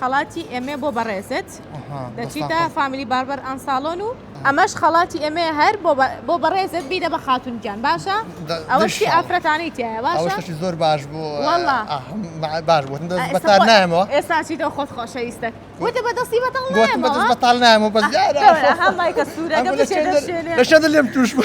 خەڵاتی ئێمەیە بۆ بەڕێزت دەچیتە فامیلی باربەر ئەنساڵۆن و ئەمەش خەڵاتی ئێمەیە هەر بۆ بەڕێزت بیدە بە خاتون گیان باشە ئەوەشی ئافرەتانی تایە باشی زۆر باش بوو باش بوون بەتار نامەوە ئێساچیتەوە خۆت خۆشەویستە وتە بەدەستی بەتەڵ نامە بەس لەشەدە لێم توش بوو.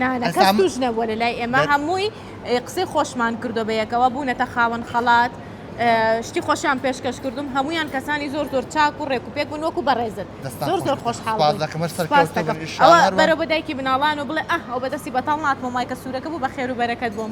نا نا کەس توش نەبووە لە لای ئێمە هەمووی قسەی خۆشمان کردو بە یەکەوە بوونەتە خاوەن خەڵات شتی خۆشیان پێشکەش کردوم هەمویان کەسانی زۆر زۆر چاک و ڕێک و پێک بوون وەکو بەڕێزن زۆر زۆر خۆشحاڵەوە بەرەوە دایکی بناڵان و بڵێ ئەه ئەو بەدەستی بەتاڵ ناتمەوە مایکە سوورەکە بوو بە خێرو بەرەکەت بۆم